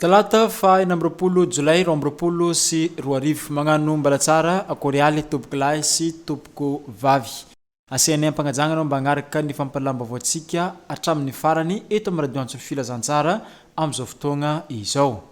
Talata fahina amby roapolo jolay roa amby roapolo sy roa arivo. Magnano mbalatsara korialy tompoko lahy sy tompoko vavy. Asianay ampanajagna anao mba agnaraka ny fampalalam-baovaontsika hatramin'ny farany eto amin'ny radio antso filazantsara amin'izao fotoagna izao.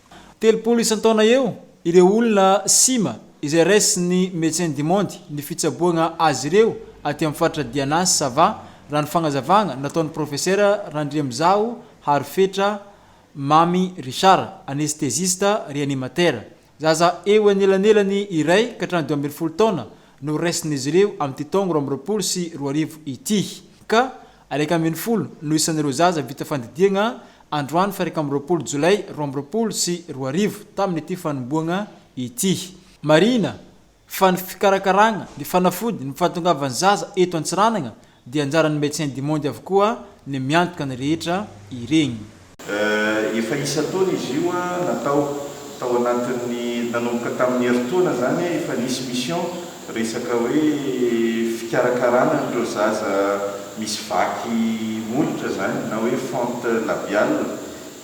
Telopolo isan-taona eo ireo olona sima izay raisin'ny Médecins du Monde ny fitsaboana azy ireo aty amin'ny faritra Diana sy Sava, raha ny fagnazavana nataon'ny Profesera Randriamizaho Harifetra Mamy Richard, anestezista reanimatera. Zaza eo anelanelany iray ka hatramin'ny dimy ambin'ny folo taona no raisin'izy ireo amin'ity taogno roa amby roapolo sy roa arivo ity, ka Iraika ambin'ny folo no isan'ireo zaza vita fandidiagna androany faha iraika amby roapolo Jolay roa amby roapolo sy roa arivo tamin'ity fanombohagna ity. Marihina fa ny fikarakaragna, ny fanafody, ny fahatongavan'ny zaza eto Antsiranana dia anjaran'ny Médecins du Monde avokoa ny miantoka ny rehetra iregny. Efa isan-taona izy io natao, tao anatin'ny, nanomboka tamin'ny herintaona izany efa nisy mission, resaka hoe fikarakarana an'ireo zaza misy vaky molotra izany na hoe fente labiale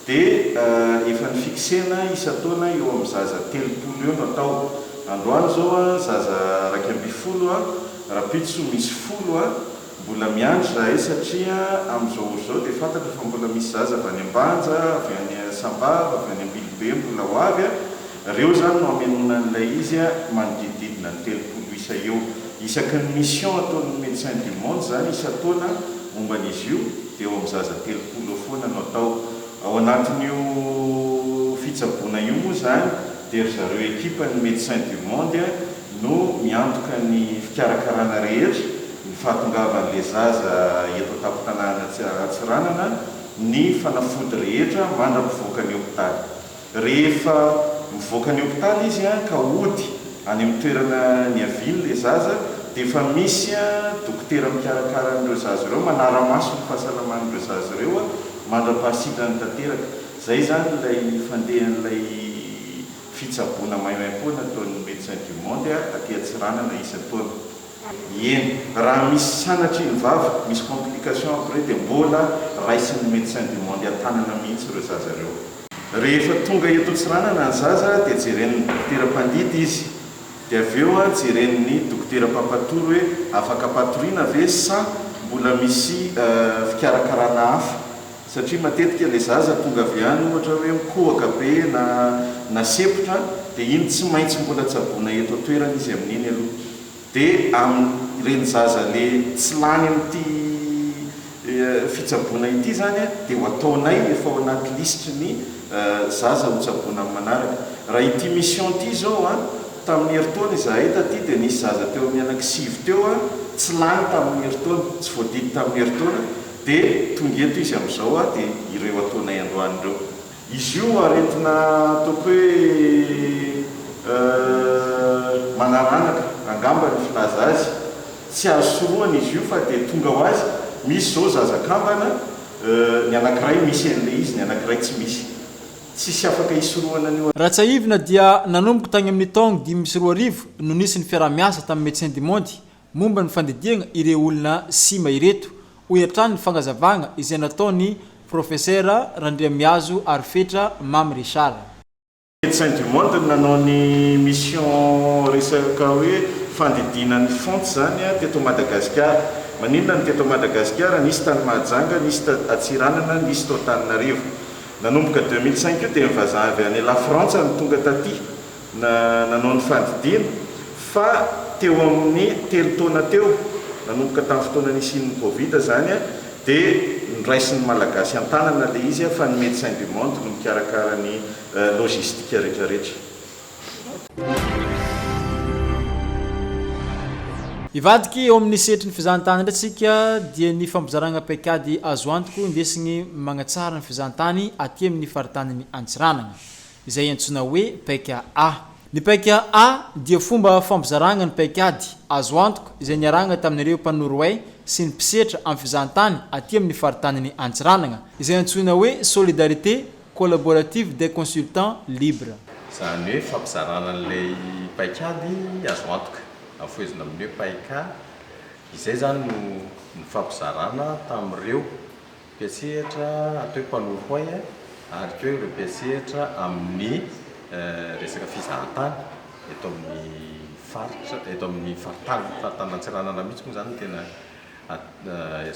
dia efa ni-fixena isan-taona eo amin'ny zaza telopolo eo no atao, androany izao zaza iraika ambin'ny folo rahampitso misy folo. Mbola miandry izahay satria amin'izao ora izao dia fantatra fa mbola misy zaza avy any Ambanja, avy any Sambava, avy any Ambilobe mbola ho avy a! Ireo izany no hamenoana an'ilay izy a! Manodidididina ny telopolo isa eo. Isaky ny mission ataon'ny Médecins du Monde izany isan-taona momba an'izy io dia eo amin'ny zaza telopolo eo foana no atao. Ao anatin'io fitsaboana io moa izany dia ry zareo ekipan'ny Médecins du Monde no miantoka ny fikarakarana rehetra, ny fahatongavan'ilay zaza eto an-tampon-tanàna Antsiranana, ny fanafody rehetra mandra-pivoaka ny hopitaly. Rehefa mivoaka ny hopitaly izy ka hody any amin'ny toerana niaviany ilay zaza dia efa misy dokotera mikarakara an'ireo zaza ireo, manara-maso ny fahasalaman'ireo zaza ireo mandra-pahasitrany tanteraka. Izay izany ilay fandehan'ilay fitsaboana maimaim-poana ataon'ny Médecins du Monde aty Antsiranana isan-taona. Ieny, raha misy sanatry iny vava, misy complication après dia mbola raisin'ny Médecin du Monde an-tanana mihitsy ireo zaza ireo. Rehefa tonga eto Antsiranana ny zaza dia jeren'ny dokotera mpandidy izy, dia avy eo jeren'ny dokotera mpampatory hoe afaka patoriana ve sa mbola misy fikarakarana hafa Satria matetika ilay zaza tonga avy any ohatra hoe mikohaka be na nasempotra dia iny tsy maintsy mbola tsaboina eto an-toerana izy amin'iny aloha. Dia amin'ireny zaza le tsy lany amin'ity fitsaboana ity izany dia ho ataonay efa ao anaty lisitry ny zaza ho tsaboina amin'ny manaraka. Raha ity mission ity izao an, tamin'ny herintaona izahay taty dia nisy zaza teo amin'ny anaky sivy teo an, tsy lany tamin'ny herintaona, tsy voadidy tamin'ny herintaona, Dia tonga eto izy amin'izao aho dia ireo ataonay androany ireo. Izy io aretina ataoko hoe manaranaka angamba ny filaza azy. Tsy azo sorohana izy io fa dia tonga ho azy. Misy izao zaza kambana, ny anankiray misy an'ilay izy, ny anankiray tsy misy. Tsisy afaka hisorohana an'io. Raha tsiahivina dia nanomboka tany amin'ny taogno dimy sy roa arivo no nisy ny fiaraha-miasa tamin'ny Médecins du Monde momba ny fandidiagna ireo olona sima ireto, hoy hatrany ny fagnazavagna izay nataon'ny Profesera Randriamiazo Arifetra Mamy Richard. Médecins du Monde no nanao ny mission resaka hoe fandidiana ny fonts izany teto Madagasikara. Maninona no teto Madagasikara? Nisy tany Mahajanga, nisy ta Antsiranana, nisy tao Antananarivo. Nanomboka deux mille cinq io dia ny vazaha avy any Lafrantsa no tonga taty. Na nanao ny fandidiana fa teo amin'ny telo taona teo, nanomboka tamin'ny fotoana nisian'ny covid izany, dia noraisin'ny Malagasy an-tanana ilay izy fa ny Médecins du Monde no mikarakara ny logistique rehetrarehetra. Hivadika eo amin'ny sehatry ny fizahantany indray isika dia ny fampizarana paikady azo antoka ho indesigny magnatsara ny fizahantany aty amin'ny faritanin'i Antsiranana. izay antsoina hoe paika A. Ny paika A dia fomba fampizaragna ny paikady azo antoka izay niarahagna tamin'ireo mpanoroay sy ny mpisetra amin'ny fizahantany aty amin'ny faritanin'i Antsiranana, izay antsoina hoe Solidarité Collaborative des Consultants Libres. Izany hoe fampizarana an'ilay paikady azo antoka, afohezina amin'ny hoe paika A, izay izany no nifampizarana tamin'ireo. mpiantsehatra atao hoe mpanoro hoay ary koa ireo mpiantsehatra amin'ny resaka fizahantany eto amin'ny faritra, eto amin'ny faritany, faritany Antsiranana mihitsy moa izany no tena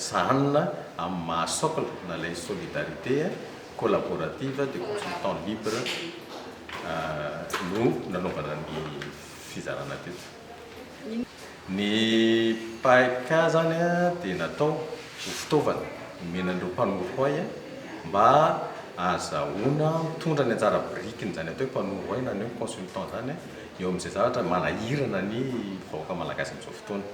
sahanina amin'ny maha socle na ilay solidarité collaborative des consultants libres no nanaovana ny fizarana teto. Ny paik izany dia natao ho fitaovana nomena an'ireo mpanoro hay mba ahazahoana mitondra ny anjara birikin'izany atao hoe mpanoro hay na ny hoe consultant izany eo amin'izay zavatra manahirana ny vahoaka malagasy amin'izao fotoana.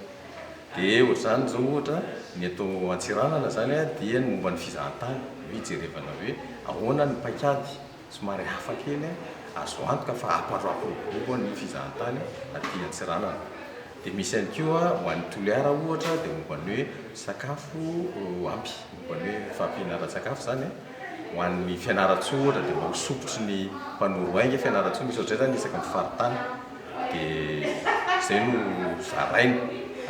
Dia ohatr'izany izao ohatra ny eto Antsiranana izany dia ny momba ny fizahantany no hijerevana hoe ahoana ny paikady Somary hafa kely an! Azo antoka fa hampandroako ny bobo ny fizahantany aty Antsiranana. Dia misy ihany koa ho an'ny Toliara ohatra dia momba ny hoe sakafo ampy, momba ny hoe fahampiana ara-tsakafo izany an! Ho an'ny Fianarantsoa ohatra dia mba ho sokitry ny mpanoro ahy ange Fianarantsoa, misy ohatr'izay izany isaky ny faritany. Dia izay no zaraina,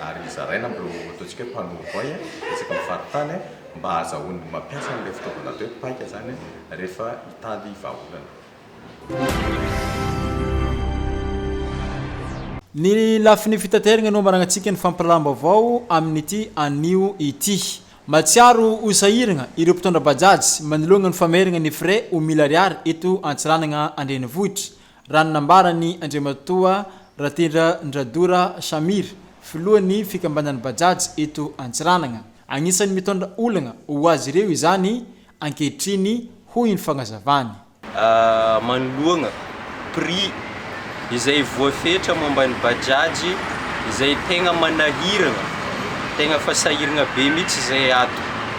ary zaraina amin'ireo ataontsika hoe mpanoro ahy isaky ny faritany an! mba hahazahoany mampiasa an'ilay fitaovana atao hoe paika izany rehefa hitady vahaolana. Ny lafiny fitaterana no manarantsika ny fampiraharam-baovao amin'ity anio ity. Mahatsiaro ho sahiragna ireo mpitondra Bajaj manoloana ny fameragna ny frais ho mille ariary eto Antsiranagna an-drenivohitra. Raha ny nambaran'i Andriamatoa Ratendra Ndradora Samir, filohan'ny fikambanan'ny Bajaj eto Antsiranana, anisan'ny mitondra olana ho azy ireo izany ankehitriny hoy ny fanazavany. Manoloana prix izay voafetra momba ny Bajaj izay tegna manahiragna, tegna efa sahiragna be mihitsy izay ato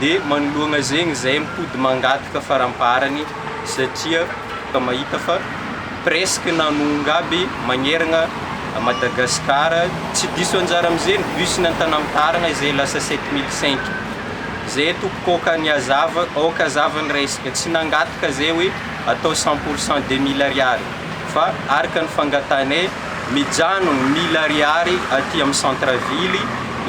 dia manoloana zegny izay mipody mangataka faramparany satria ka mahita fa presque nanonga aby magneragna Madagascar tsy diso anjara amzegny bus nantanam taragna izay lasa sept mille cinq zay tompoko aoka ny azava aoka azava ny resaka tsy nangataka zay hoe atao cent pourcent deux mille ariary fa araka ny fangatahanay Mijanogno mille ariary aty amin'ny centre ville,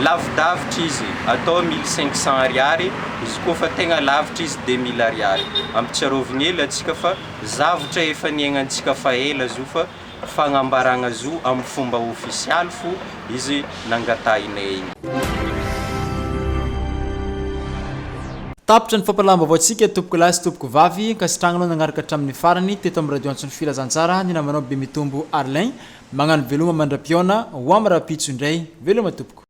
lavidavitra izy atao mille cinq cents ariary, izy koa fa tegna lavitra izy de mille ariary. Ampitsiarovigny hely antsika fa zavatra efa niaignantsika fa ela zo fa fagnambaragna zo amin'ny fomba ofisialy fo izy. nangatahinay. Tapitra ny fampahalalam-baovaontsika tompoko lahy sy tompoko vavy, ankasitrahanao nagnaraka hatramin'ny farany teto amin'ny radio antso ny filazantsara ny namanao Bemitombo Arlin, magnano veloma mandra-pihaona, ho am rahampitso indray, veloma tompoko.